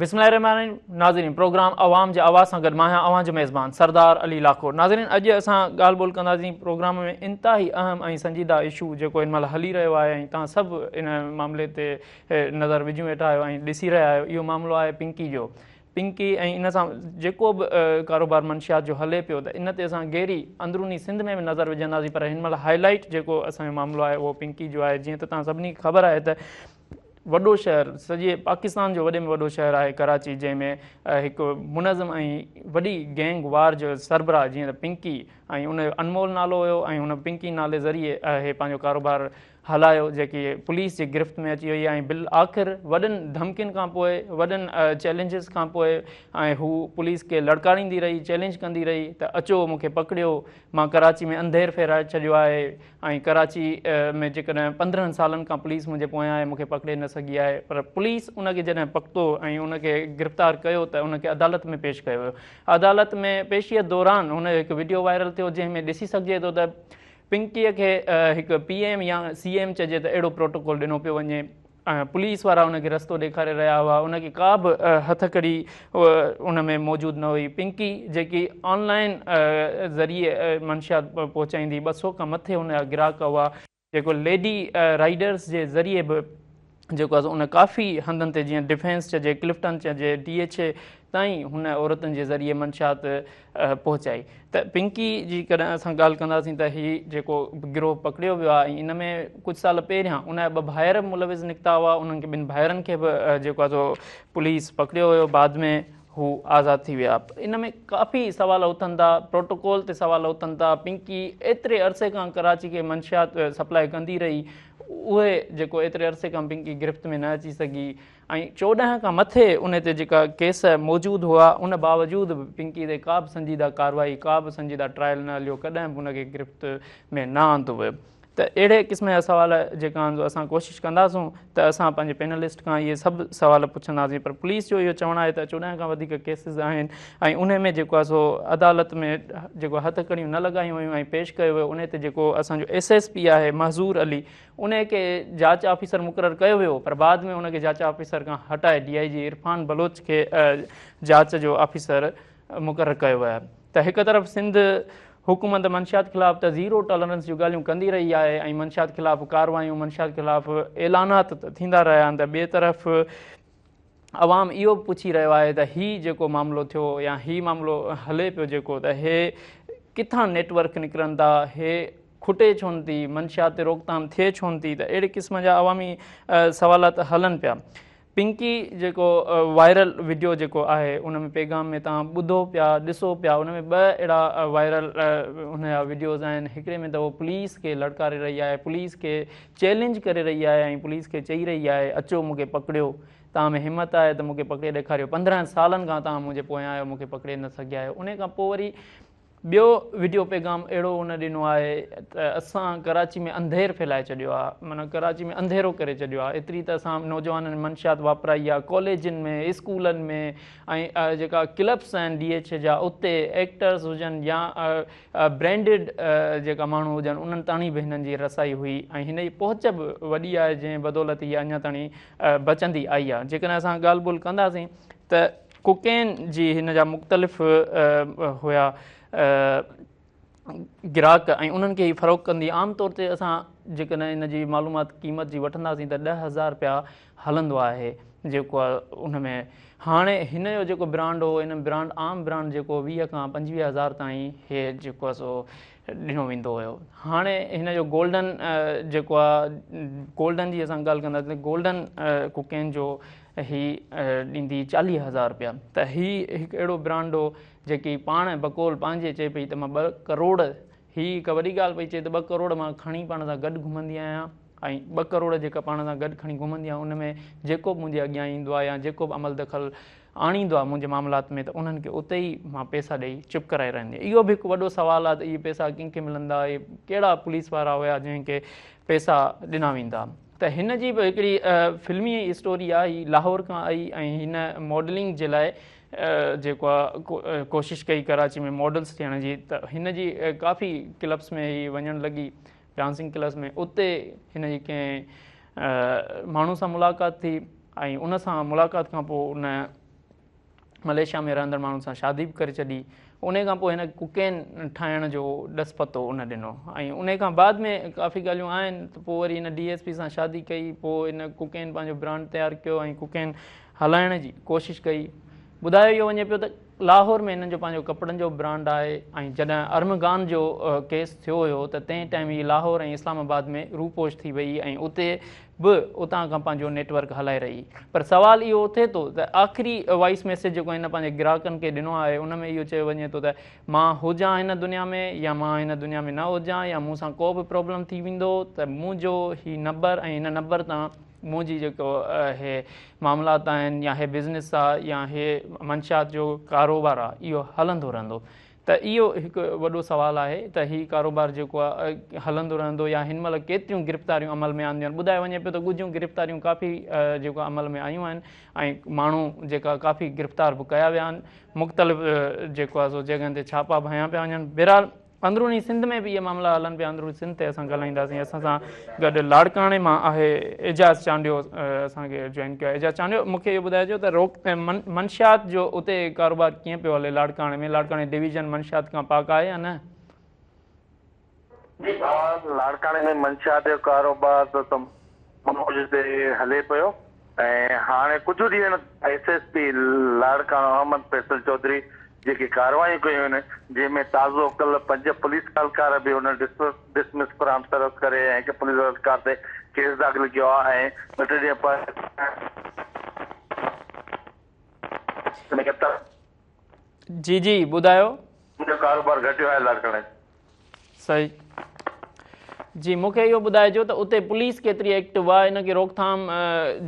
بسم الله الرحمٰن الرحيم ناظرين پروگرام عوام جي آواز سان گڏ مان آهيان اوهان جو ميزبان سردار علي لاکو ناظرين اڄ اسان ڳالهه ٻولهه ڪنداسين پروگرام ۾ انتهائي اهم ۽ سنجيده اشو جيڪو هن مهل هلي رهيو آهي ۽ تان سڀ ان معاملي تي نظر وجهيون ويٺا آهيو ۽ ڏسي رهيا آهيو اهو معاملو آهي پنڪي جو پنڪي ۽ ان سان جيڪو به ڪاروبار منشيات جو هلي پيو ته ان تي اسان گيري اندروني سنڌ ۾ به نظر وجهنداسين پر هن مهل هاء لائيٽ جيڪو اسان جو معاملو آهي اهو پنڪي جو آهي جيئن ته تان سڀني کي خبر آهي ته وڏو شهر سڄي پاڪستان جو وڏي ۾ وڏو شهر آهي ڪراچي جنهن ۾ هڪ منظم ۽ وڏي گينگ وار جو سربراهه جيئن ته پنڪي ۽ ان جو انمول نالو هيو ۽ هن پنڪي نالي ذريعي هي پنهنجو ڪاروبار هلايو جيڪي پوليس جي گرفت ۾ اچي وئي ۽ بل آخر وڏن ڌمڪين کان پوء وڏن چيلنجز کان پوء ۽ هو پوليس کي لڙڪاريندي رهي چيلنج ڪندي رهي ته اچو مونکي پڪڙيو مان ڪراچي ۾ انڌير ڦيرائي ڇڏيو آهي ۽ ڪراچي ۾ جيڪڏهن پندرهن سالن کان پوليس منهنجي پويان آهي، مون کي پڪڙي نه سگهي آهي، پر پوليس ان کي جڏهن پڪتو ۽ ان کي گرفتار ڪيو ته ان کي عدالت ۾ پيش ڪيو ويو. عدالت ۾ پيشيء دوران هن جو هڪ وڊيو وائرل ٿيو جنهن ۾ ڏسي سگهجي ٿو ته پنڪيء کي هڪ پي ايم يا سي ايم چئجي ته اهڙو پروٽوڪول ڏنو پيو وڃي. پوليس وارا ان کي رستو ڏيکاري رهيا هئا، ان کي ڪا به هٿڪڙي ان ۾ موجود نه هئي، پنڪي جيڪي آن لائين ذريعي منشيات پهچائيندي، ٻه سؤ کان مٿي ان جا گراهڪ هئا، جيڪو ليڊي رائيڊرز جي ذريعي به جيڪو آهي ان ڪافي هنڌن تي جيئن ڊفينس چئجي، ڪلفٽن چئجي، ڊي ايڇ اي تائين هن عورتن جي ذريعي منشيات پهچائي ته پنڪي جي ڪڏهن اسان ڳالهه ڪنداسين ته هي جيڪو گروهه پڪڙيو ويو آهي ان ۾ ڪجهه سال پهريان ان جا ٻه ڀائر ملوث نڪتا هئا انهن کي ٻن ڀائرن کي به جيڪو آهي سو پوليس پڪڙيو هيو بعد ۾ هو آزاد ٿي ويا ان ۾ ڪافي سوال اٿن ٿا پروٽوڪول تي سوال اٿن ٿا پنڪي ايتري عرصي کان ڪراچي کي منشيات سپلائي ڪندي رهي اهي جيڪو ايتري عرصي کان پنڪي گرفت ۾ نه اچي سگهي ۽ چوڏهن کان مٿي ان تي جيڪا ڪيس موجود هئا ان باوجود به پنڪي تي ڪا به سنجيده ڪارروائي ڪا به سنجيده ٽرائل نه هليو ڪڏهن به ان کي گرفت ۾ نه آندو ويو ته اهڙي قسم جا سوال جيڪا آهن اسان ڪوشش ڪنداسون ته اسان پنهنجي پينلسٽ کان اهي سڀ سوال پڇنداسين پر پوليس جو اهو چوڻ آهي ته چوڏهن کان وڌيڪ ڪيسز آهن ۽ ان ۾ جيڪو آهي سو عدالت ۾ جيڪو هٿڪڙيون نه لڳايون ويون ۽ پيش ڪيو ويو ان تي جيڪو اسان جو ايس ايس پي آهي محظور علي انهيء کي جاچ آفيسر مقرر ڪيو ويو پر بعد ۾ ان کي جاچ آفيسر کان هٽائي ڊي آء جي عرفان بلوچ کي جاچ جو آفيسر مقرر ڪيو ويو ته هڪ طرف سنڌ حڪومت منشيات خلاف ته زيرو ٽالرنس جون ڳالهيون ڪندي رهي آهي ۽ منشيات خلاف ڪارروايون منشيات خلاف اعلانات ته ٿيندا رهيا آهن ته ٻئي طرف عوام اهو به پڇي رهيو آهي ته هي جيڪو معاملو ٿيو يا هي معاملو هلي پيو جيڪو ته هي ڪٿان نيٽ ورڪ نڪرن ٿا هي کٽي ڇو نه ٿي منشيات تي روڪٿام ٿئي ڇو نه ٿي ته اهڙي قسم جا عوامي سوالات هلن پيا پنڪي جيڪو وائرل وڊيو جيڪو آهي ان ۾ پيغام ۾ تان ٻڌو پيا ڏسو پيا ان ۾ ٻه اهڙا وائرل ان جا وڊيوز آهن هڪڙي ۾ ته هو پوليس کي لڙڪاري رهي آهي پوليس کي چئلينج ڪري رهي آهي ۽ پوليس کي چئي رهي آهي اچو مون کي پڪڙيو توهان ۾ همت آهي ته مون کي پڪڙي ڏيکاريو پندرهن سالن کان توهان منهنجي پويان آهيو مون کي پڪڙي نه سگهيا آهيو انهي کان پوء وري ٻيو وڊيو پيغام اهڙو ان ڏنو آهي ته اسان ڪراچي ۾ انڌير ڦهلائي ڇڏيو آهي معنيٰ ڪراچي ۾ انڌيرو ڪري ڇڏيو آهي ايتري ته اسان نوجوانن منشيات واپرائي آهي ڪاليجن ۾ اسڪولن ۾ ۽ جيڪا ڪلبس آهن ڊي ايڇ جا اتي ايڪٽرس هجن يا برينڊيڊ جيڪا ماڻهو هجن انهن تاڻي به هنن جي رسائي هئي ۽ هن جي پهچ به وڏي آهي جنهن بدولت هي اڃا تاڻي بچندي آئي آهي جيڪڏهن اسان ڳالهه ٻولهه ڪنداسين ته ڪوڪين جي هن جا مختلف هيا گراهڪ ۽ انهن کي فروغ ڪندي عام طور تي اسان جيڪڏهن ان جي معلومات قيمت جي وٺنداسين ته ڏهه هزار رپيا هلندو آهي جيڪو ان ۾ هاڻي هن جو جيڪو برانڊ هو ان برانڊ عام برانڊ جيڪو ويهه کان پنجويهه هزار تائين هي جيڪو آهي سو ڏنو ويندو هيو هاڻي هن جو گولڊن جيڪو آهي گولڊن جي اسان ڳالهه ڪندا ته گولڊن ڪوڪين جو هي ڏيندي چاليهه هزار رپيا ته هي هڪ اهڙو برانڊ هو جيڪي پاڻ بقول پنهنجي چئي پئي ته مان ٻه ڪروڙ هي هڪ وڏي ڳالهه پئي چئي ته ٻه ڪروڙ مان کڻي پاڻ سان گڏ گهمندي آهيان ۽ ٻه ڪروڙ جيڪا پاڻ سان گڏ کڻي گهمندي آهيان ان ۾ جيڪو به منهنجي اڳيان ايندو آهي يا جيڪو به عمل دخل آڻيندو آهي منهنجي معاملات ۾ ته انهن کي اتي ئي مان پئسا ڏئي چپ ڪرائي رهندي اهو به هڪ وڏو سوال آهي ته اهي پئسا ڪن کي ملندا اهي ڪهڙا پوليس وارا هيا جنهن کي پئسا ڏنا ويندا ته هن جي به هڪڙي فلمي اسٽوري آهي هي لاهور کان آئي ۽ هن ماڊلنگ جي لاء جيڪو آ ڪوشش ڪئي ڪراچي ۾ ماڊلز ٿيڻ جي ته هن جي ڪافي ڪلبس ۾ هي وڃڻ لڳي ڊانسنگ ڪلبس ۾ اتي هن جي ڪنهن ماڻهو سان ملاقات ٿي ۽ ان سان ملاقات کان پوء ان مليشيا ۾ رهندڙ ماڻهن سان شادي به ڪري ڇڏي ان کان پوء هن ڪوڪين ٺاهڻ جو ڏس پتو ان ڏنو ۽ ان کان بعد ۾ ڪافي ڳالهيون آهن ته پوء وري هن ڊي ايس پي سان شادي ڪئي پوء هن ڪوڪين پنهنجو برانڊ تيار ڪيو ۽ ڪوڪين هلائڻ جي ڪوشش ڪئي. ٻڌايو اهو وڃي پيو ته لاهور ۾ هنن جو پنهنجو ڪپڙن جو برانڊ آهي ۽ جڏهن ارمغان جو ڪيس ٿيو هيو ته تنهن ٽائيم هي لاهور ۽ اسلام آباد ۾ روپوش ٿي وئي ۽ اتي به اتان کان پنهنجو نيٽ ورڪ هلائي رهي. پر سوال اهو اٿي ٿو ته آخري وائيس ميسيج جيڪو هن پنهنجي گراهڪن کي ڏنو آهي ان ۾ اهو چيو وڃي ٿو ته مان هجان هن دنيا ۾ يا مان هن دنيا ۾ نه هجان يا مون سان ڪو به پرابلم ٿي ويندو ته منهنجو هي نبر ۽ هن نبر تان منهنجي جيڪو هي معاملات آهن يا هي بزنس آ يا هي منشيات جو ڪاروبار آ اهو هلندو رهندو ته اهو هڪ وڏو سوال آهي ته هي ڪاروبار جيڪو آ هلندو رهندو يا هن مهل ڪيتريون گرفتاريون عمل ۾ آنديون آهن ٻڌايو وڃي پيو ته ڳجهيون گرفتاريون ڪافي جيڪو عمل ۾ آيون آهن ۽ ماڻهو جيڪا ڪافي گرفتار به ڪيا ويا آهن مختلف جيڪو آ سو جڳهن تي ڇاپا ڀنيا پيا وڃن بهرحال اندروني سنڌ ۾ به اهي معاملا هلن پيا اندروني سنڌ تي اسان ڳالهائينداسين اسان سان گڏ لاڙڪاڻي مان آهي اعجاز چانڊيو اسان کي جوائن ڪيو اعجاز چانڊيو مون کي اهو ٻڌائجو ته روڪ منشيات جو اتي ڪاروبار ڪيئن پيو هلي لاڙڪاڻي ۾ لاڙڪاڻي ڊويزن منشيات کان پاڪ آهي يا نه جي لاڙڪاڻي ۾ منشيات جو ڪاروبار ته معجزي هلي پيو ۽ هاڻي ڪجهه ڏينهن S S P Larkana Ahmed Faisal Chaudhry جيڪي ڪارروايون ڪيون آهن جنهن ۾ تازو ڪلهه پنج پوليس اهلڪار به هن ڊسمس فرام سروس ڪري ۽ هڪ پوليس اهلڪار تي ڪيس داخل ڪيو آهي ۽ ٻه ٽي ڏينهن پهرين جي جي ٻڌايو. جو ڪاروبار گهٽيو آهي لاڙڪاڻي. صحيح جي مون کي اهو ٻڌائجو ته اتي پوليس ڪيتري ايڪٽو آ ان کي روڪٿام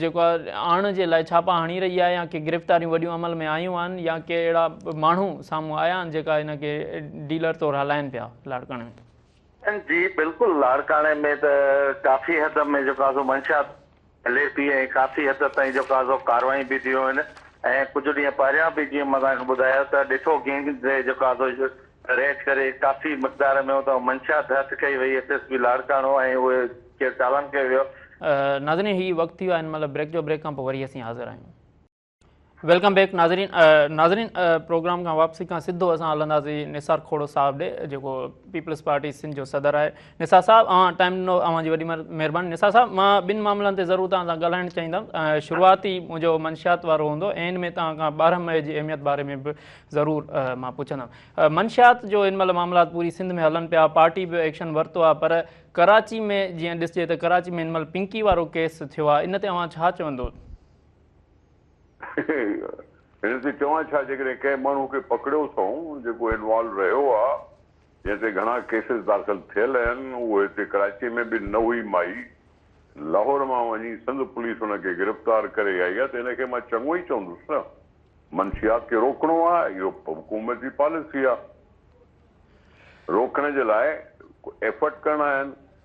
جيڪو آڻ جي لاء ڇاپا هڻي رهي آ يا ڪي گرفتاريون وڏيون عمل ۾ آيون آهن يا ڪي اهڙا ماڻهو سامهون آيا آهن جيڪا ان کي ڊيلر طور هلائين پيا لاڙڪاڻي ۾. جي بلڪل لاڙڪاڻي ۾ ته ڪافي حد ۾ جيڪو آ سو منشيات. ايل اي پي ۽ ڪافي حد تائين جو ڪازو ڪاروايون به ٿيون آهن ۽ ڪجهه ڏينهن پهريان به جيئن مان توهان کي ٻڌايو ته ڏٺو گينگ ري جو ڪازو ريڊ ڪري ڪافي مقدار ۾ اتان منشيات هٿ ڪئي وئي ايس ايس پي لاڙڪاڻو ۽ اهي ڪير چالان ڪيو ويو. ناظرين هي وقت ٿي ويو آهي ان مهل بريڪ جو بريڪ کان پوء وري اسين حاضر آهيون. ويلڪم بيڪ ناظرين ناظرين پروگرام کان واپسي کان سڌو اسان هلنداسين نثار کھوڙو صاحب ڏي جيڪو پيپلز پارٽي سنڌ جو صدر آهي نثار صاحب اوهان ٽائيم ڏنو اوهان جي وڏي مهرباني نثار صاحب مان ٻن معاملن تي ضرور توهان سان ڳالهائڻ چاهيندم شروعاتي منهنجو منشيات وارو هوندو اينڊ ۾ توهان کان ٻارهن مئي جي اهميت باري ۾ به ضرور مان پڇندم منشيات جو هن مهل معاملات پوري سنڌ ۾ هلن پيا پارٽي به ايڪشن ورتو آهي پر ڪراچي ۾ جيئن ڏسجي ته ڪراچي ۾ هن مهل پنڪي وارو ڪيس ٿيو آهي ان تي اوهان ڇا چوندو هن تي چوان ڇا جيڪڏهن ڪنهن ماڻهو کي پڪڙيو اٿئون جيڪو انوالو رهيو آ جنهن تي گهڻا ڪيسز داخل ٿيل اهن اهو هتي ڪراچي ۾ به نه هئي مائي لاهور مان وڃي سنڌ پوليس ان کي گرفتار ڪري آئي آ ته ان کي مان چڱو ئي چوندس نه منشيات کي روڪڻو آ اهو حڪومت جي پاليسي آ روڪڻ جي لاء ڪو ايفرٽ ڪرڻا آهن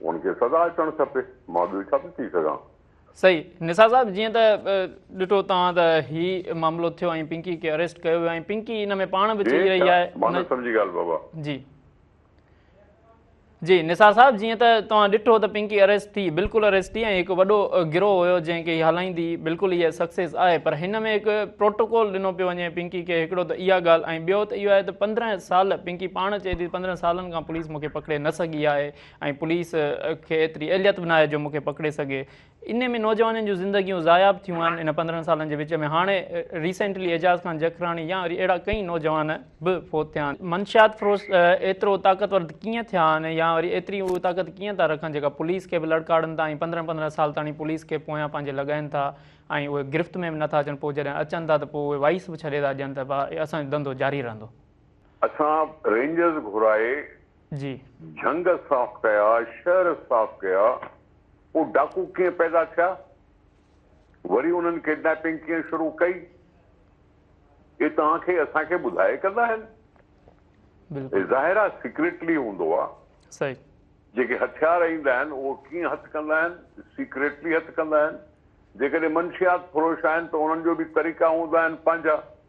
ان کي سزا اچڻ کپي مان ٻيو ڇا ٿو چئي سگهان. صحيح نثار صاحب جيئن ته ڏٺو توهان ته هي معاملو ٿيو ۽ پنڪي کي اريسٽ ڪيو ويو ۽ پنڪي ان ۾ پاڻ به چئي رهي آهي مان نه سمجهي ڳالهه بابا. جي جي نثار صاحب جيئن ته توهان ڏٺو ته پنڪي اريسٽ ٿي بلڪل اريسٽ ٿي ۽ هڪ وڏو گروهه هيو جنهن کي هي هلائيندي بلڪل هي سڪسيس آهي پر هن ۾ هڪ پروٽوڪول ڏنو پيو وڃي پنڪي کي هڪڙو ته اها ڳالهه ۽ ٻيو ته اهو آهي ته پندرهن سال پنڪي پاڻ چئي ٿي پندرهن سالن کان پوليس مون کي پڪڙي نه سگهي آهي ۽ پوليس کي ايتري اهليت به ناهي جو مون کي پڪڙي سگهي. انهي ۾ نوجوانن جون زندگيون ضايع به ٿيون آهن ان پندرهن سالن جي وچ ۾ هاڻي ريسينٽلي اعجاز خان جکراڻي يا وري اهڙا ڪئين نوجوان به فوت ٿيا آهن. منشيات فروش ايترو طاقتور ڪيئن ٿيا آهن يا وري ايتري اهي طاقت ڪيئن ٿا رکن جيڪا پوليس کي به لڙڪاڙن ٿا ۽ پندرهن پندرهن سال تاڻي پوليس کي پويان پنهنجي لڳائين ٿا ۽ اهي گرفت ۾ به نٿا اچن پوء جڏهن اچن ٿا ته پوء اهي وائس به ڇڏي ٿا ڏين ته ڀا اسان جو ڌنڌو جاري رهندو. اسان رينجرز گهرائي جي. جهنگ صاف ڪيا، شهر صاف ڪيا، پوء ڊاڪو ڪيئن پيدا ٿيا؟ وري انهن ڪيڊنيپنگ ڪيئن شروع ڪئي؟ اهي توهان کي اسان کي ٻڌائي ڪندا آهن؟ بلڪل. ظاهر آهي سيڪريٽلي هوندو آهي. صحيح. جيڪي هٿيار ايندا آهن اهي ڪيئن هٿ ڪندا آهن؟ سيڪريٽلي هٿ ڪندا آهن. جيڪڏهن منشيات فروش آهن ته انهن جو به طريقا هوندا آهن پنهنجا.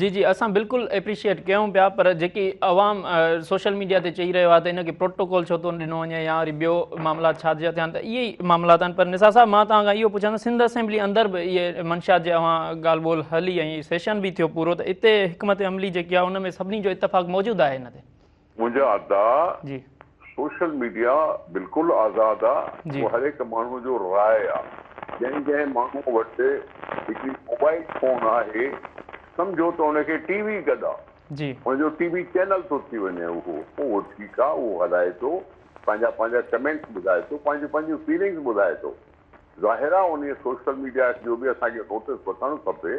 جي جي اسان بلڪل ايپريشيئيٽ ڪيون پيا پر جيڪي عوام سوشل ميڊيا تي چئي رهيو آهي ته ان کي پروٽوڪول ڇو ٿو ڏنو وڃي يا وري ٻيو معاملات ڇا جا ٿيا آهن ته اهي ئي معاملات آهن پر نثار صاحب مان توهان کان اهو پڇان ته سنڌ اسيمبلي اندر به اهي منشيات جي اوهان ڳالهه ٻولهه هلي ۽ سيشن به ٿيو پورو ته اتي حڪمت عملي جيڪي آهي ان ۾ سڀني جو اتفاق موجود آهي ان تي منهنجا ادا سوشل ميڊيا بلڪل آزاد آ اهو هر هڪ ماڻهو جو راء آ جنهن جنهن ماڻهو وٽ هڪڙي موبائل فون آهي سمجهو ته ان کي ٽي وي گڏ آ ان جو ٽي وي چينل ٿو ٿي وڃي اهو اهو ٺيڪ آ اهو هلائي ٿو پنهنجا پنهنجا ڪمينٽس ٻڌائي ٿو پنهنجون پنهنجون فيلنگس ٻڌائي ٿو ظاهر آ انهي سوشل ميڊيا جو به اسان کي نوٽس وٺڻ کپي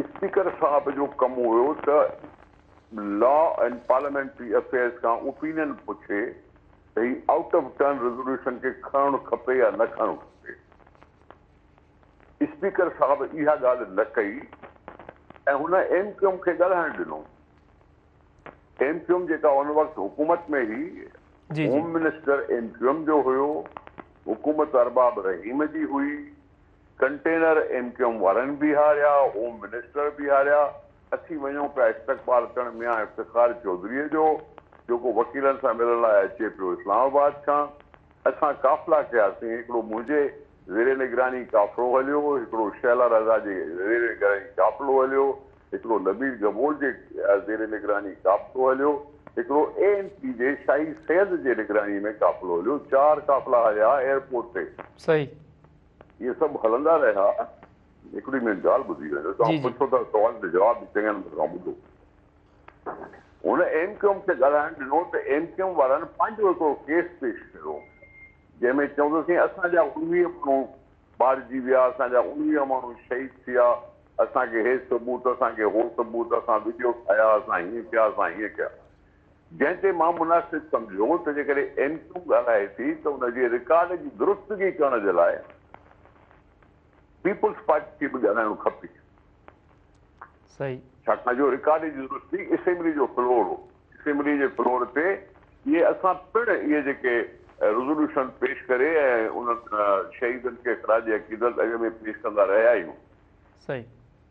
اسپيڪر صاحب جو ڪم هيو ته لا اينڊ پارليامينٽري افيئرز کان اوپينين پڇي ته هي آئوٽ آف ٽرن ريزوليوشن کي کڻڻ کپي يا نه کڻڻ کپي. اسپيڪر صاحب اها ڳالهه نه ڪئي ۽ هن ايم ڪيو ايم کي ڳالهائڻ ڏنو. ايم ڪيو ايم جيڪا ان وقت حڪومت ۾ هئي، home minister M Q M جو هيو، حڪومت ارباب رحيم جي هئي، ڪنٽينر ايم ڪيو ايم وارن بيهاريا، هوم منسٽر بيهاريا، اچي وڃون پيا استقبال ڪرڻ ميان افتخار چوڌري جو، جيڪو وڪيلن سان ملڻ لاء اچي پيو اسلام آباد کان. اسان قافلا ڪياسين، هڪڙو منهنجي زير نگراني قافلو هليو، هڪڙو شهلا رضا جي زير نگراني قافلو هليو، هڪڙو نبيل گبول جي زير نگراني قافلو هليو، هڪڙو اي اين پي جي شاهي سيد جي نگراني ۾ قافلو هليو، چار قافلا هليا ايئرپورٽ تي. صحيح. اهي سڀ هلندا رهيا. هڪڙي مين ڳالهه ٻڌي ويو جو توهان پڇو ٿا سوال جو جواب به چڱي نمبر سان ٻڌو. هن ايم ڪيو ايم کي ڳالهائڻ ڏنو ته ايم ڪيو ايم وارن پنهنجو هڪڙو ڪيس پيش ڪيو جنهن ۾ چئون ته سائين اسان جا انويهه ماڻهو مارجي ويا، اسان جا انويهه ماڻهو شهيد ٿيا، اسان کي هي ثبوت، اسان کي هو ثبوت، اسان وڊيو ٺاهيا، اسان هيئن ڪيا، اسان هيئن ڪيا. جنهن تي مان مناسب سمجهيو ته جيڪڏهن ايم ڪيو ڳالهائي ٿي ته ان جي رڪارڊ جي درستگي ڪرڻ جي لاء پيپلز پارٽي کي به ڳالهائڻو کپي. ڇاڪاڻ جو رڪارڊ جي درستگي اسيمبلي جو فلور هو. اسيمبلي جي فلور تي اهي اسان پڻ اهي جيڪي رزوليوشن پيش ڪري ۽ انهن شهيدن کي خراج عقيدت اڳ ۾ پيش ڪندا رهيا آهيون.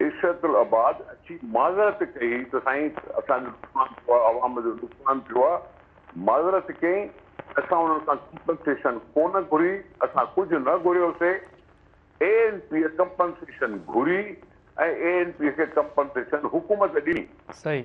عشرت العباد اچي معذرت ڪئي ته سائين اسان جو نقصان ٿيو آهي عوام جو نقصان ٿيو آهي معذرت ڪئين اسان انهن کان ڪمپنسيشن ڪونه گهري اسان ڪجهه نه گهريو سي اي اين پي ڪمپنسيشن گهري ۽ اي اين پي کي ڪمپنسيشن حڪومت ڏني. صحيح.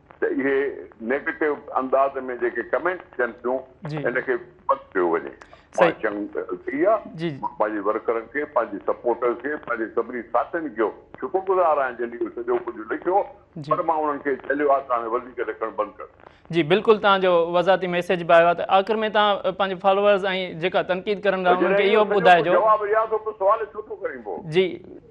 ته اهي نيگيٽو انداز ۾ جيڪي ڪمينٽس ٿين ٿيون ان کي بند ڪيو وڃي مان چڱ ڪئي آ مان پنهنجي ورڪرن کي پنهنجي سپورٽرز کي پنهنجي سڀني ساٿين جو شڪر گذار آهيان جن اهو سڄو ڪجهه لکيو پر مان انهن کي جهليو آ ته هاڻي وڌيڪ لکڻ بند ڪر. جي بلڪل توهان جو وضاحتي ميسيج به آيو آهي ته آخر ۾ توهان پنهنجي فالوورز ۽ جيڪا تنقيد ڪرن ٿا انهن کي اهو ٻڌائجو جواب يا ٿو پوء سوال ڇو ٿو ڪرين پوء جي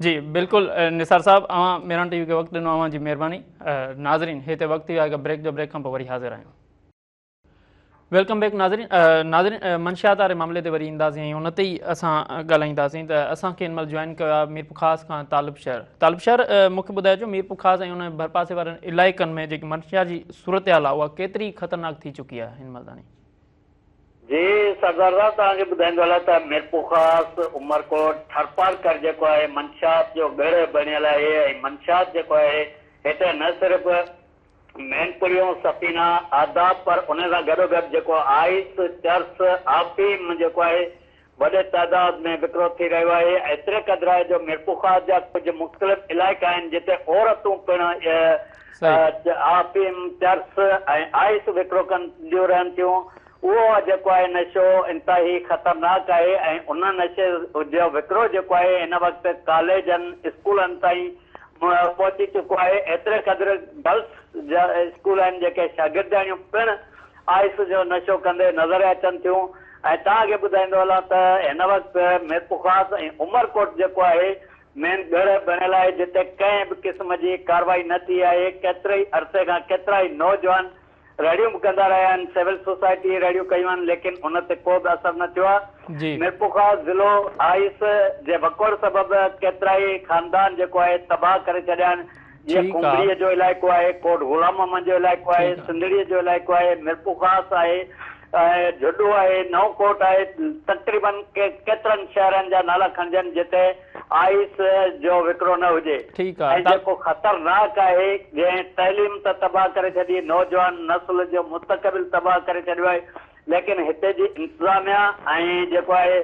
جي بلڪل نثار صاحب اوهان ميران ٽي وي کي وقت ڏنو اوهان جي مهرباني ناظرين هي تي وقت ٿي ويو آهي بريڪ جو بريڪ کان پوء وري حاضر آهيون ويلڪم بيڪ ناظرين ناظرين منشيات واري معاملي تي وري اينداسين ۽ ان تي ئي اسان ڳالهائينداسين ته اسان کي ان مهل جوائن ڪيو آهي ميرپور خاص کان طالب شهر طالب شهر مون کي ٻڌايو جو ميرپور خاص ۽ ان ڀرپاسي وارن علائقن ۾ جيڪي منشيات جي صورتحال آهي اها ڪيتري خطرناڪ ٿي چڪي آهي هن مهل تائين جي سردار توهان کي ٻڌائيندو هلان ته ميرپورخاص، عمرڪوٽ، ٿرپارڪر جيڪو آهي منشيات جو ڳڙهه بڻيل آهي ۽ منشيات جيڪو آهي هتي نه صرف مينپوريون، سفينا، آداب پر ان سان گڏوگڏ جيڪو آئس، چرس، آفيم جيڪو آهي وڏي تعداد ۾ وڪرو ٿي رهيو آهي، ايتري قدر آهي جو ميرپورخاص جا ڪجهه مختلف علائقا آهن جتي عورتون پڻ افيم، چرس ۽ آئس وڪرو ڪنديون رهن ٿيون، اهو جيڪو آهي نشو انتهائي خطرناڪ آهي ۽ ان نشي جو وڪرو جيڪو آهي هن وقت ڪاليجن، اسڪولن تائين پهچي چڪو آهي، ايتري قدر گرلس جا اسڪول آهن جيڪي شاگردياڻيون پڻ آئس جو نشو ڪندي نظر اچن ٿيون ۽ توهان کي ٻڌائيندو هلان ته هن وقت ميرپورخاص ۽ عمرڪوٽ جيڪو آهي مين ڳڙهه بڻيل آهي جتي ڪنهن به قسم جي ڪارروائي نه ٿي آهي ڪيتري عرصي کان ڪيترائي نوجوان رڙيون به ڪندا رهيا آهن سول سوسائٽي رڙيون ڪيون آهن ليڪن ان تي ڪو به اثر نه ٿيو آهي ميرپورخاص ضلعو آئس جي وڪوڙ سبب ڪيترائي خاندان جيڪو آهي تباهه ڪري ڇڏيا آهن جيئن ڪنڀريء جو علائقو آهي، ڪوٽ غلام محمد جو علائقو آهي، سنڌڙيء جو علائقو آهي، ميرپورخاص آهي، جهڏو آهي، نئون ڪوٽ آهي، تقريبن ڪيترن شهرن جا نالا کڻجن جتي آئيس جو وڪرو نه هجي ۽ جيڪو خطرناڪ آهي جنهن تعليم ته تباهه ڪري ڇڏي، نوجوان نسل جو مستقبل تباهه ڪري ڇڏيو آهي، ليڪن هتي جي انتظاميا ۽ جيڪو آهي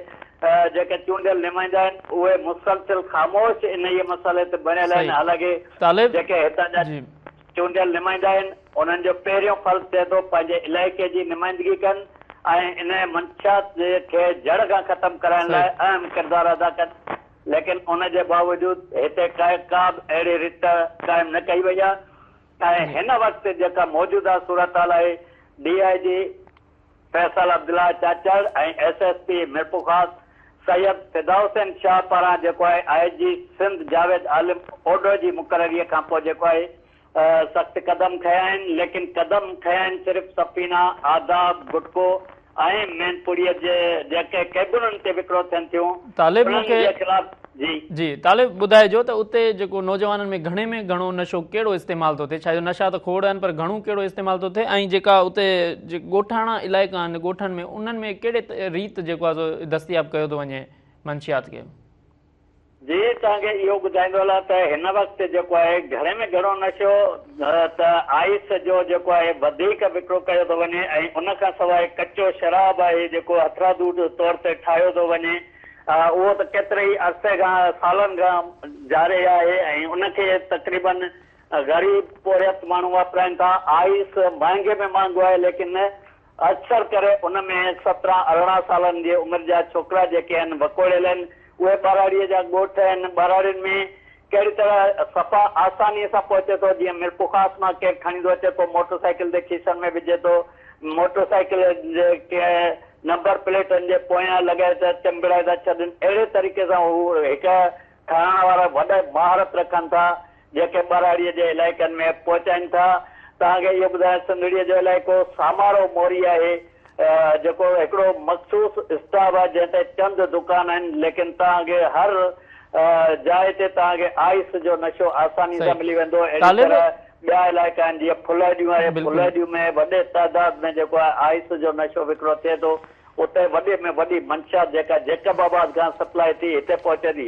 جيڪي چونڊيل نمائندا آهن اهي مسلسل خاموش انهيء مسئلي تي بڻيل آهن صحيح حالانڪه طالب جيڪي هتان جا جي. چونڊيل نمائندا آهن انهن جو پهريون فرض ٿئي ٿو پنهنجي علائقي جي نمائندگي ڪن ۽ انهيء منشيات جي کي جڙ کان ختم ڪرائڻ لاء صحيح. اهم ڪردار ادا ڪن ليڪن ان جي باوجود هتي ڪا ڪا به اهڙي رٿ قائم نه ڪئي وئي آهي ۽ هن وقت جيڪا موجوده صورتحال آهي، D I G Faisal Abdullah Chachar ۽ S S P Mirpurkhas Syed Fida Hussain Shah پاران جيڪو آهي آء جي سنڌ جاويد عالم اوڍو جي مقرريء کان پوء جيڪو آهي سخت قدم کنيا آهن ليڪن قدم کنيا آهن صرف سفينه، آداب، گٽڪو، ۽ مين پوڙهيء جي جيڪي ڪيبنن تي وڪرو ٿين ٿيون، طالب انهن مونکي جي خلاف جي. جي طالب ٻڌائجو ته اتي جيڪو نوجوانن ۾ گهڻي ۾ گهڻو نشو ڪهڙو استعمال ٿو ٿئي ڇا جو نشا ته کوڙ آهن پر گهڻو ڪهڙو استعمال ٿو ٿئي ۽ جيڪا اتي جي ڳوٺاڻا علائقا آهن ڳوٺن ۾ انهن ۾ ڪهڙي ريت جيڪو آهي سو دستياب ڪيو ٿو وڃي منشيات کي. جي توهان کي اهو ٻڌائيندو هلان ته هن وقت جيڪو آهي گهڻي ۾ گهڻو نشو ته آئس جو جيڪو آهي وڌيڪ وڪرو ڪيو ٿو وڃي ۽ ان کان سواء ڪچو شراب آهي جيڪو هٿرادو طور تي ٺاهيو ٿو وڃي اهو ته ڪيتري ئي عرصي کان سالن کان جاري آهي ۽ ان کي تقريباً غريب پورهيت ماڻهو واپرائن ٿا آئس مهانگي ۾ مهانگو آهي ليڪن اڪثر ڪري ان ۾ سترهن ارڙهن سالن جي عمر جا ڇوڪرا جيڪي هن وڪوڙيل هن اهي ٻهراڙيء جا ڳوٺ هن ٻهراڙين ۾ ڪهڙي طرح صفا آسانيء سان پهچي ٿو جيئن ميرپورخاص مان ڪير کڻيندو اچي ٿو موٽر سائيڪل تي کيسن ۾ وجهي ٿو موٽر سائيڪل جي ڪنهن نمبر پليٽن جي پويان لڳائي ٿا چنبڙائي ٿا ڇڏن اهڙي طريقي سان هو هڪ ٺهرائڻ وارا وڏا مهارت رکن ٿا جيڪي ٻهراڙيء جي علائقن ۾ پهچائين ٿا. توهان کي اهو ٻڌايان سنڌڙيء جو علائقو سامارو موري آهي جيڪو هڪڙو مخصوص اسٽاپ آهي جنهن تي چند دڪان آهن ليڪن توهان کي هر جاء تي توهان کي آئس جو نشو آساني سان ملي ويندو اهڙي طرح ٻيا علائقا آهن جيئن ڦلهڏيون آهي ڦلهڏيون ۾ وڏي تعداد ۾ جيڪو آهي آئس جو نشو وڪرو ٿئي ٿو اتي وڏي ۾ وڏي منشيات جيڪا جيڪب آباد کان سپلائي ٿي هتي پهچي ٿي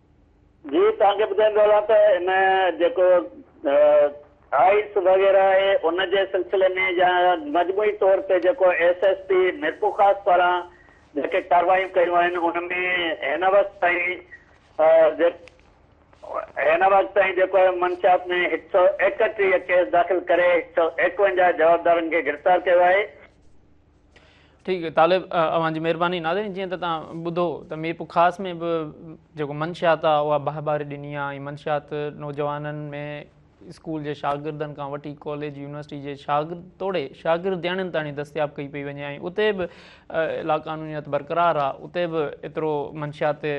جي توهان کي ٻڌائيندو هلان ته هن جيڪو آئس وغيره آهي ان جي سلسلي ۾ يا مجموعي طور تي جيڪو ايس ايس پي ميرپورخاص پاران جيڪي ڪاروايون ڪيون آهن ان ۾ هن وقت تائين هن وقت تائين جيڪو منشيات ۾ هڪ سؤ ايڪٽيهه ڪيس داخل ڪري هڪ سؤ ايڪونجاهه جوابدارن کي گرفتار ڪيو آهي. ٺيڪ طالب اوهان جي مهرباني ناظرين جيئن ته تان ٻڌو ته مير پخاص ۾ به جيڪو منشيات آهي اها باهه باري ڏني آهي ۽ منشيات نوجوانن ۾ اسڪول جي شاگردن کان وٺي ڪاليج يونيورسٽي جي شاگرد توڙي شاگردياڻين تاڻي دستياب ڪئي پئي وڃي ۽ اتي به لاقانونيت برقرار آهي اتي به ايترو منشيات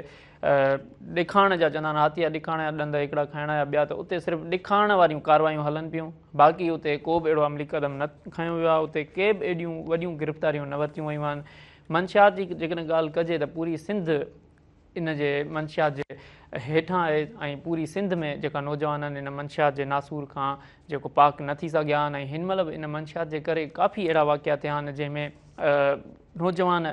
ڏکاڻ جا چوندا آهن هاتيء جا ڏکاڻ يا ڏند هڪڙا کائڻا يا ٻيا ته اتي صرف ڏکاڻ واريون ڪاروايون هلن پيون باقي اتي ڪو به اهڙو عملي قدم نه کنيو ويو آهي اتي ڪي به ايڏيون وڏيون گرفتاريون نه ورتيون ويون آهن منشيات جي جيڪڏهن ڳالهه ڪجي ته پوري سنڌ ان جي منشيات جي هيٺان آهي ۽ پوري سنڌ ۾ جيڪا نوجوان آهن ان منشيات جي ناسور کان جيڪو پاڪ نه ٿي سگهيا آهن ۽ هن مهل به ان منشيات جي ڪري ڪافي اهڙا واقعا ٿيا آهن جنهن ۾ نوجوان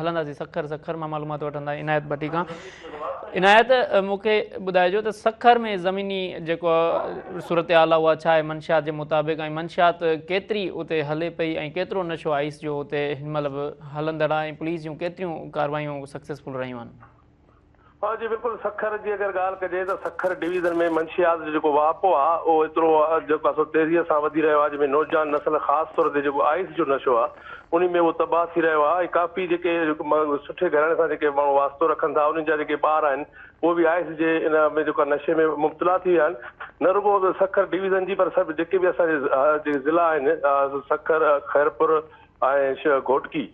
هلنداسين سکر سکر مان معلومات وٺندا عنايت ڀٽي کان عنايت مون کي ٻڌائجو ته سکر ۾ زميني جيڪو صورتحال آهي اها ڇا آهي منشيات جي مطابق ۽ منشيات ڪيتري اتي هلي پئي ۽ ڪيترو نشو آئيس جو اتي هن مهل به هلندڙ آهي ۽ پوليس جون ڪيتريون ڪاروايون سڪسيسفل رهيون آهن ها جي بلڪل سکر جي اگر ڳالهه ڪجي ته سکر ڊويزن ۾ منشيات جو جيڪو واهپو آ اهو ايترو جو پاسو تيزيء سان وڌي رهيو آ جنهن ۾ نوجوان نسل خاص طور تي جيڪو آئس جو نشو آ انهي ۾ اهو تباهه ٿي رهيو آ ۽ ڪافي جيڪي سٺي گهراڻي سان جيڪي ماڻهو واسطو رکن ٿا انهن جا جيڪي ٻار آهن اهي به آئس جي ان ۾ جيڪو نشي ۾ مبتلا ٿي ويا آهن نه رڳو سکر ڊويزن جي پر سڀ جيڪي به اسان جي ضلعا آهن سکر خيرپور ۽ شيخ گهوٽڪي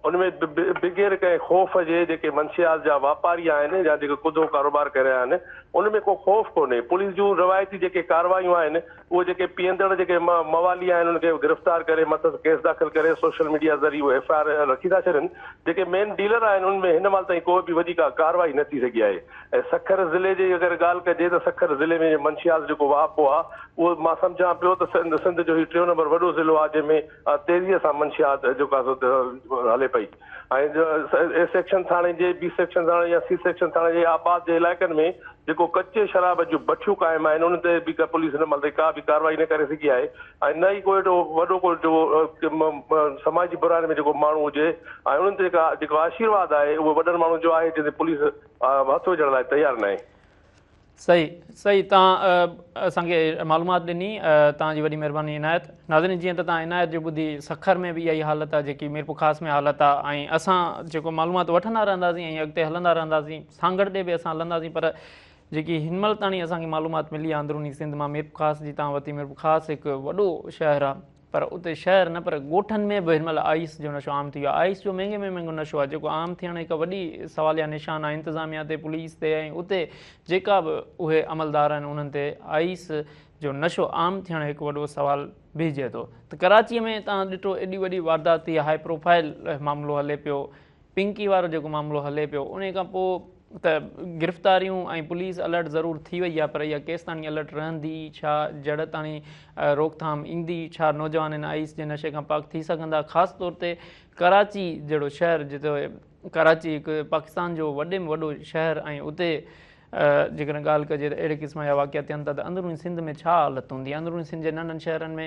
ان ۾ بغير ڪنهن خوف جي جيڪي منشيات جا واپاري آهن يا جيڪي ڪڌو ڪاروبار ڪري رهيا آهن ان ۾ ڪو خوف ڪونهي پوليس جون روايتي جيڪي ڪاروايون آهن اهي جيڪي پيئندڙ جيڪي موالي آهن ان کي گرفتار ڪري مٿس ڪيس داخل ڪري سوشل ميڊيا ذريعي اهي ايف آء آر رکي ٿا ڇڏين جيڪي مين ڊيلر آهن ان ۾ هن مهل تائين ڪو به وڏي ڪا ڪاروائي نه ٿي سگهي آهي ۽ سکر ضلعي جي اگر ڳالهه ڪجي ته سکر ضلعي ۾ منشيات جيڪو واهپو آهي اهو مان سمجهان پيو ته سنڌ جو هي ٽيون نمبر وڏو ضلعو آهي جنهن ۾ تيزيء سان منشيات جو ڪاسو هلي پئي ۽ اي سيڪشن ٿاڻي جي بي سيڪشن ٿاڻي يا سي سيڪشن ٿاڻي جي آباد جي علائقن ۾ جيڪو ڪچي شراب جون بٺيون قائم آهن انهن تي به پوليس هن مهل تائين ڪا به ڪارروائي نه ڪري سگهي آهي ۽ نه ئي ڪو اهڙو وڏو ڪو جيڪو سماجي براين ۾ جيڪو ماڻهو هجي ۽ انهن تي ڪا جيڪو آشيرواد آهي اهو وڏن ماڻهن جو آهي جنهن تي پوليس هٿ وجهڻ لاء تيار ناهي. صحيح صحيح تان اسان کي معلومات ڏني تان جي وڏي مهرباني عنايت ناظرين جيئن ته تان عنايت جو ٻڌي سکر ۾ به اها ئي حالت آهي جيڪي ميرپور خاص ۾ حالت آهي ۽ اسان جيڪو معلومات وٺندا رهنداسين ۽ اڳتي هلندا رهنداسين سانگھڙ ڏي به اسان هلنداسين پر جيڪي هن مهل تاڻي اسان کي معلومات ملي آهي اندروني سنڌ مان ميرپور خاص جي تان وتي ميرپور خاص هڪ وڏو شهر آهي پر اتي شهر نه پر ڳوٺن ۾ به هن مهل آئيس جو نشو عام ٿي ويو آهي. آئيس جو مهنگي ۾ مهنگو نشو آهي جيڪو عام ٿيڻ هڪ وڏي سواليه نشان آهي انتظاميه تي، پوليس تي ۽ اتي جيڪا به اهي عملدار آهن انهن تي آئيس جو نشو عام ٿيڻ هڪ وڏو سوال بيهجي ٿو ته ڪراچي ۾ تان ڏٺو ايڏي وڏي واردات ٿي هاء پروفائل معاملو هلي پيو پنڪي وارو جيڪو معاملو هلي پيو انهي کان پوء ته گرفتاريون ۽ پوليس الرٽ ضرور ٿي وئي آهي پر اها ڪيستاڻي الرٽ رهندي؟ ڇا جڙتاڻي روڪٿام ايندي؟ ڇا نوجوان ان آئيس جي نشي کان پاڪ ٿي سگهندا؟ خاص طور تي ڪراچي جهڙو شهر جتي ڪراچي هڪ پاڪستان جو وڏي ۾ وڏو شهر ۽ اتي جيڪڏهن ڳالهه ڪجي ته اهڙي قسم جا واقعا ٿين ٿا ته اندروني سنڌ ۾ ڇا حالت هوندي؟ اندروني سنڌ جي ننڍن شهرن ۾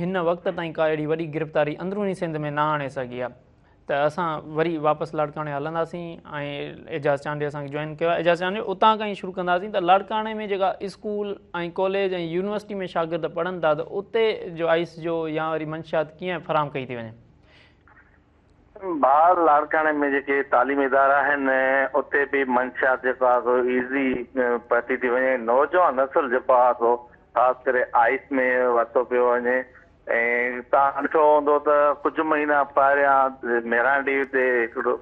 هن وقت تائين ڪا اهڙي وڏي گرفتاري اندروني سنڌ ۾ نه آڻي سگهي آهي ته اسان وري واپس لاڙڪاڻي هلنداسين ۽ اعجاز چانڊيو اسان کي جوائن ڪيو اعجاز چانڊيو اتان کان ئي شروع ڪنداسين ته لاڙڪاڻي ۾ جيڪا اسڪول ۽ ڪاليج ۽ يونيورسٽي ۾ شاگرد پڙهن ٿا ته اتي جو آئس جو يا وري منشيات ڪيئن فراهم ڪئي ٿي وڃي بھار لاڙڪاڻي ۾ جيڪي تعليمي ادارا آھن اتي به منشيات جيڪو آھي سو ايزي پھتي ٿي وڃي نوجوان نسل جيڪو آھي سو خاص ڪري آئس ۾ ورتو پيو وڃي ۽ تان ڏٺو ھوندو ته ڪجھ مھينا پھريان ميران ڊي تي ھڪڙو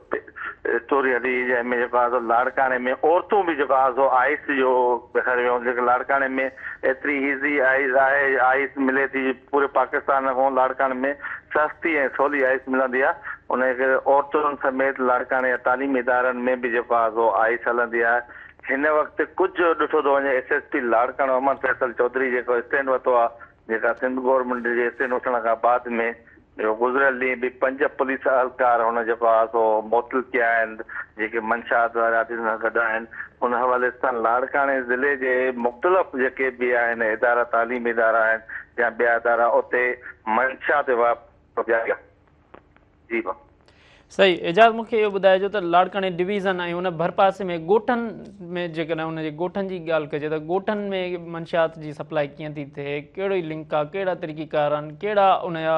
اسٽوري ھلي جنھن ۾ جيڪو آھي سو لاڙڪاڻي ۾ عورتون به جيڪو آھي سو آئس جو ڏيکاري ويون جيڪي لاڙڪاڻي ۾ ايتري ايزي آئس آھي آئس ملي ٿي پوري پاڪستان نه ڪون لاڙڪاڻي ۾ سستي ۽ سولي آئس ملندي آهي انهيء ڪري عورتن سميت لاڙڪاڻي جا تعليمي ادارن ۾ به جيڪو آهي سو آئس هلندي آهي هن وقت ڪجهه ڏٺو ٿو وڃي S S P Larkana Ahmed Faisal Chaudhry جيڪو اسٽينڊ ورتو آهي جيڪا سنڌ گورنمينٽ جي اسٽينڊ وٺڻ کان بعد ۾ جيڪو گذريل ڏينهن به پنج پوليس اهلڪار هن جيڪو آهي سو معطل ڪيا آهن جيڪي منشاءات وارا آفيسرن سان گڏ آهن ان حوالي سان لاڙڪاڻي ضلعي جي مختلف جيڪي به آهن ادارا تعليمي ادارا آهن يا ٻيا ادارا اتي منشا تي واپس جاري آهي جي ڀا. صحيح اعجاز مون کي اهو ٻڌائجو ته لاڙڪاڻي ڊويزن ۽ ان ڀرپاسي ۾ ڳوٺن ۾ جيڪڏهن ان جي ڳوٺن جي ڳالهه ڪجي ته ڳوٺن ۾ منشيات جي سپلاء ڪيئن ٿي ٿئي ڪهڙي لنڪ آهي ڪهڙا طريقي ڪار آهن ڪهڙا ان جا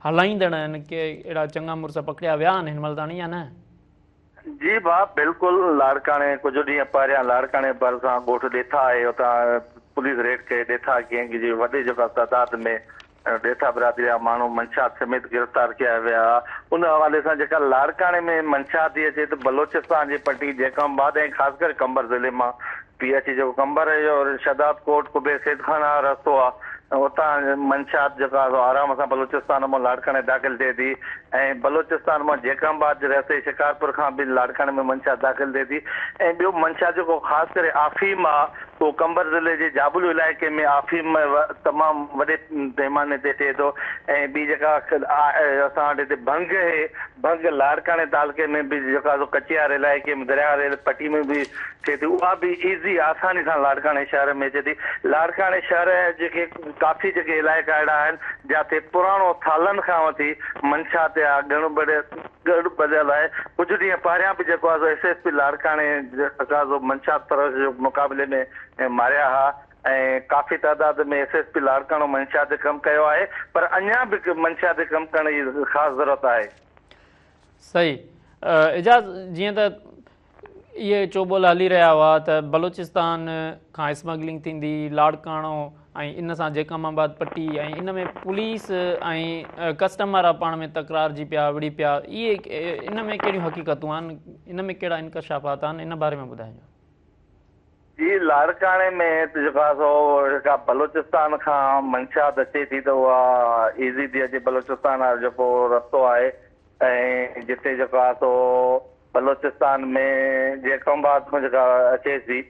هلائيندڙ آهن ڪي اهڙا چڱا مڙس پڪڙيا ويا آهن هن مهل تاڻي يا نه جي ڀاء بلڪل لاڙڪاڻي ڪجهه ڏينهن پهريان لاڙڪاڻي ڀرسان ڳوٺ ڏيٿا آهي اتان پوليس ريڊ ڪئي ڏيٿا گينگ جي وڏي جيڪا تعداد ۾ ڏيٿا برادري جا ماڻهو منشيات سميت گرفتار ڪيا ويا ان حوالي سان جيڪا لاڙڪاڻي ۾ منشيات ٿي اچي ته بلوچستان جي پٽي جيڪم آباد ۽ خاص ڪري قمبر ضلعي مان پي اچي جيڪو قمبر اهو شداد ڪوٽ قبي سيد خان آ رستو آ اتان منشات جيڪو آ سو آرام سان بلوچستان مون لاڙڪاڻي داخل ٿئي ٿي ۽ بلوچستان مون جيڪم آباد جي رستي شڪارپور کان به لاڙڪاڻي ۾ منشات داخل ٿئي ٿي ۽ ٻيو منشات جيڪو خاص ڪري آفيم آ اهو قمبر ضلعي جي جابلو علائقي ۾ آفيم تمام وڏي پيماني تي ٿئي ٿو ۽ ٻي جيڪا آ اسان وٽ هتي ڀنگ اهي ڀنگ لاڙڪاڻي تعلقي ۾ به جيڪو آ سو ڪچيار علائقي ۾ درياهه ريل پٽي ۾ به ٿئي ٿي اها به ايزي آساني سان لاڙڪاڻي شهر ۾ اچي ٿي لاڙڪاڻي شهر جيڪي ڪافي جيڪي علائقا اهڙا آهن جاتي پراڻو سالن کان وٺي منشات يا گڻ بڙ گڙ ٻڌل آهي ڪجهه ڏينهن پهريان به جيڪو آهي ايس ايس پي لاڙڪاڻي جيڪو منشات پرست جي مقابلي ۾ ماريا ها ۽ ڪافي تعداد ۾ ايس ايس پي لاڙڪاڻو منشات تي ڪم ڪيو آهي پر اڃان به منشات تي ڪم ڪرڻ جي خاص ضرورت آهي. صحيح اعجاز جيئن ته اهي چوٻول هلي رهيا هئا ته بلوچستان کان اسمگلنگ ٿيندي لاڙڪاڻو ۽ ان سان جيڪم آباد پٽي ۽ ان ۾ پوليس ۽ ڪسٽم وارا پاڻ ۾ تڪرار جي پيا وڙي پيا اهي ان ۾ ڪهڙيون حقيقتون آهن ان ۾ ڪهڙا انڪشافات آهن ان باري ۾ ٻڌائجو جي لاڙڪاڻي ۾ جيڪا سو جيڪا بلوچستان کان منشات اچي ٿي ته اها ايزي ٿي اچي بلوچستان وارو جيڪو رستو آهي ۽ جتي جيڪا سو بلوچستان ۾ جيڪب آباد کان جيڪا اچي ٿي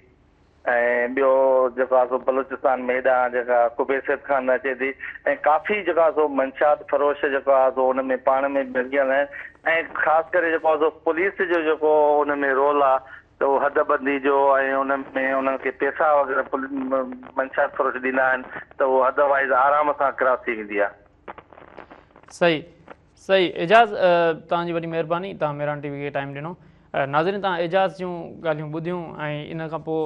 ۽ ٻيو جيڪا سو بلوچستان ۾ هيڏانهن جيڪا قبي سيد کان نه اچي ٿي ۽ ڪافي جيڪا سو منشات فروش جيڪا سو ان ۾ پاڻ ۾ ڀرجيل آهن ۽ خاص ڪري جيڪو سو پوليس جو جيڪو ان ۾ رول آهي ته هو حد ٻڌي جو ۽ ان ۾ انهن کي پيسا وغيره منشيات فروش ڏيندا آهن ته اهو حد وائز آرام سان ڪراس ٿي ويندي آهي. صحيح صحيح اعجاز توهان جي وڏي مهرباني توهان ميران ٽي وي کي ٽائيم ڏنو ناظرين توهان اعجاز جون ڳالهيون ٻڌيون ۽ ان کان پوء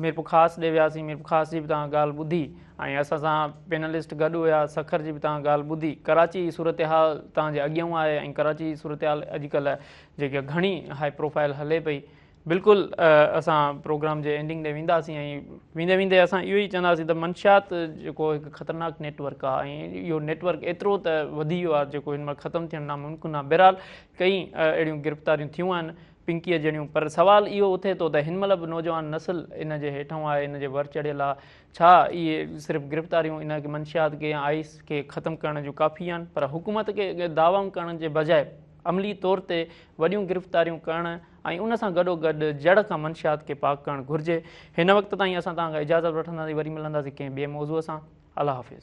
ميرپورخاص ڏي وياسين ميرپورخاص جي به توهان ڳالهه ٻڌي ۽ اسان سان پينلسٽ گڏ هيا سکر جي به توهان ڳالهه ٻڌي ڪراچي جي صورتحال توهان جي اڳيان آهي ۽ ڪراچي جي صورتحال اڄڪلهه جيڪا گهڻي هائي پروفائل هلي پئي بلڪل اسان پروگرام جي اينڊنگ ڏي وينداسين ۽ ويندي ويندي اسان اهو ئي چونداسين ته منشيات جيڪو هڪ خطرناڪ نيٽ ورڪ آهي ۽ اهو نيٽ ورڪ ايترو ته وڌي ويو آهي جيڪو هن مهل ختم ٿيڻ ناممڪن آهي بهرحال ڪئين اهڙيون گرفتاريون ٿيون آهن پنڪيء جهڙيون پر سوال اهو اٿي ٿو ته هن مهل به نوجوان نسل ان جي هيٺون آهي ان جي ور چڙهيل آهي ڇا اهي صرف گرفتاريون ان منشيات کي آئس کي ختم ڪرڻ جون ڪافي آهن پر حڪومت کي دعوائون ڪرڻ جي بجاء عملي طور تي وڏيون گرفتاريون ڪرڻ ۽ ان سان گڏوگڏ جڙ کان منشيات کي پاڪ ڪرڻ گهرجي. هن وقت تائين اسان توهان کان اجازت وٺنداسين وري ملنداسين ڪنهن ٻئي موضوع سان. الله حافظ.